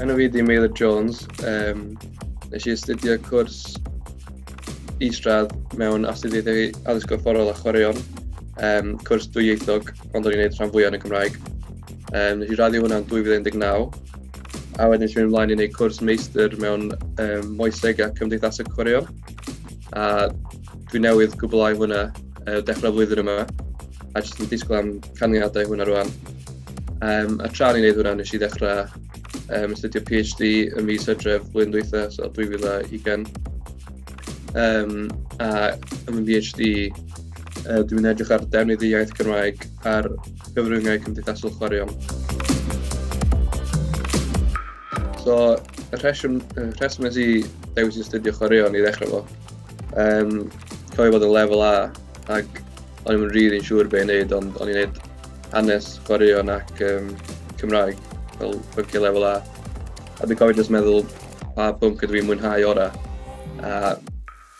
Enw fi di Meilir Jones. Um, nes i astudio cwrs isradd mewn astudiaethau addysg gorfforol a chwaraeon, um, cwrs dwyieithog, ond o'n i'n gwneud rhan fwyaf yn y Gymraeg. Um, nes i raddio hwnna'n 2019, a wedyn nes i mynd ymlaen i wneud cwrs meistr mewn um, moeseg a cymdeithasau chwaraeon, a dwi newydd gwblhau hwnna uh, dechrau flwyddyn yma, a jyst yn disgwyl am canlyniadau hwnna rwan. Um, a tra ni'n neud hwnna, nes i ddechrau um, astudio PhD ym mis hydref blwyddyn dwytha, so 2020. Um, a ym y PhD, uh, dwi'n edrych ar defnydd y iaith Cymraeg ar gyfryngau cymdeithasol chwaraeon. So, y rheswm, y rheswm nes i dewis i astudio chwaraeon i ddechrau fo, um, cofio bod yn lefel A, ac o'n i'm yn rili'n siŵr be' i neud ond o'n i'n neud hanes, chwaraeon ac um, Cymraeg fel pynciau lefel A. A dwi'n cofio jyst meddwl pa bwnc ydw i'n mwynhau orau. A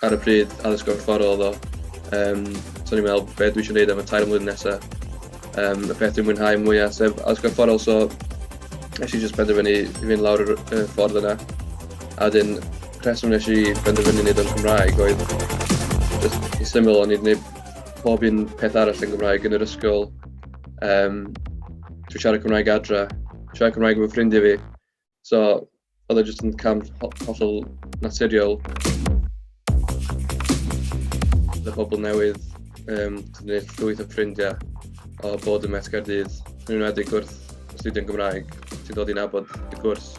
ar y pryd addysg gorfforol oedd o. Um, so o'n i'n meddwl beth dwi eisiau gwneud am y tair mlynedd nesaf. Um, y peth dwi'n mwynhau mwyaf sef addysg gorfforol so eisiau jyst penderfynu i fynd lawr y ffordd yna. A wedyn rheswm nes i benderfynu wneud o'n Cymraeg oedd just yn syml o'n i wedi gwneud pob un peth arall yn Gymraeg yn yr ysgol. Um, Dwi'n siarad Cymraeg adra, siarad Cymraeg efo ffrindiau fi. So, oedd e jyst yn cam hollol naturiol. Bydd pobl newydd, um, gwneud llwyth o ffrindiau o bod yn Met Caerdydd, yn enwedig wrth astudio'n Gymraeg, ti'n dod i nabod y cwrs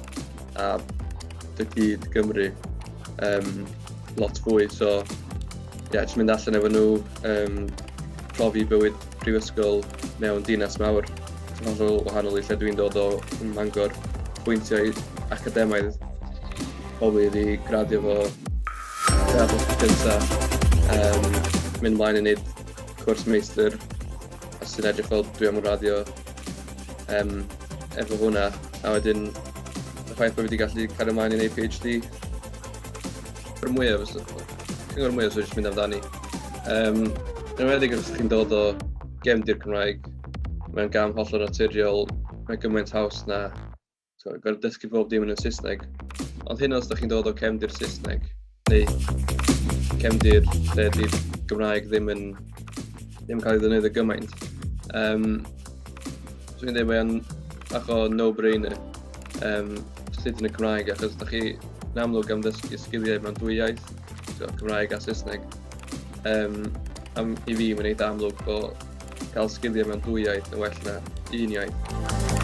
a dy gyd Gymru um, lot fwy. So, ie, yeah, jyst mynd allan efo nhw, um, profi bywyd prifysgol mewn dinas mawr, sy'n hollol wahanol i lle dwi'n dod o yn Mangor, pwyntiau academaidd pobl i gradio fo fel bod gyntaf, um, mynd mlaen i wneud cwrs meistr a sy'n edrych fel dwi am raddio um, efo hwnna. A wedyn, y ffaith bod fi wedi gallu cario ymlaen i'n APHD. Yr mwyaf, cyngor mwyaf sy'n eisiau mynd amdani. Um, yn weddig os chi'n dod o gefndir Cymraeg, mae'n gam hollol naturiol, mae gymaint haws na So, gorfod dysgu bob dim yn y Saesneg. Ond hyn os da chi'n dod o cefndir Saesneg, neu cefndir lle di'r Gymraeg ddim yn, ddim yn cael ei ddynyddio gymaint. Um, so, fi'n dweud mae'n bach o no-brainer um, sut yn y Cymraeg, achos da chi yn amlwg am ddysgu sgiliau mewn dwy iaith, so, Cymraeg a Saesneg. Um, am, I fi, mae'n eitha amlwg bod cael sgiliau mewn dwy iaith yn well na un iaith.